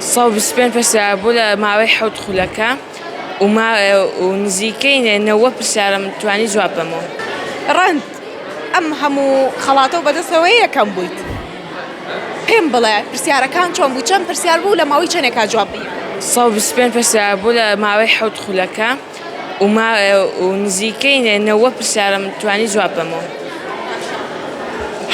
سەد و بیست و پێنج پرسیار بوو لە ماوەی حەوت خولەکە و ما و نزیکەی نەوەد پرسیارم توانی جواب بەمەوە. ڕەند ئەم هەموو خەڵاتە و بەدەستەوەیە یەکەم بوویت پێم بڵێ پرسیارەکان چۆن بوو چەند پرسیار بوو لە ماوەی چەنێکا جواب بی. سەد و بیست و پێنج پرسیار بوو لە ماوەی حەوت خولەکە و ما و نزیکەی نەوەد پرسیارم توانی جواب بەمەوە.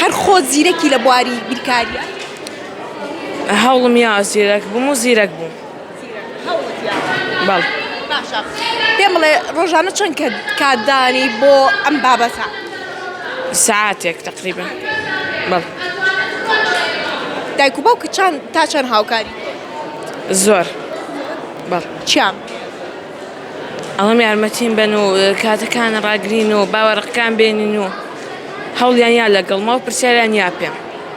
هەر خۆت زیرەکی لە بواری بیرکاریە؟ هەوڵم یا زیرەک بووم و زیرەک بووم بەڵ باشە پێم بڵێ ڕۆژانە چەند کە کاتدانی بۆ ئەم بابەتە ساعتێک تقریبا بەڵ دایک و باوکە چند تا چەند هاوکاری زۆر بەڵ چیان ئەوەم یارمەتیم بن و کاتەکان ڕاگرین و باوەڕقەکان بێنین و هەوڵیان یا لەگەڵمەوە پرسیاریان یا پێم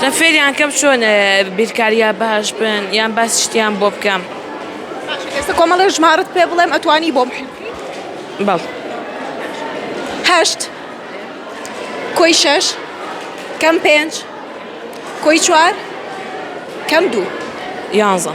دە فێریان کەم چۆن بیرکاریا باش بن یان باس شتیان بۆ بکەم ئێستا کۆمەڵێ ژمارت پێ بڵێم ئەتوانی بۆم بەڵ هەشت کۆی شەش کەم پێنج کۆی چوار کەم دوو یانزە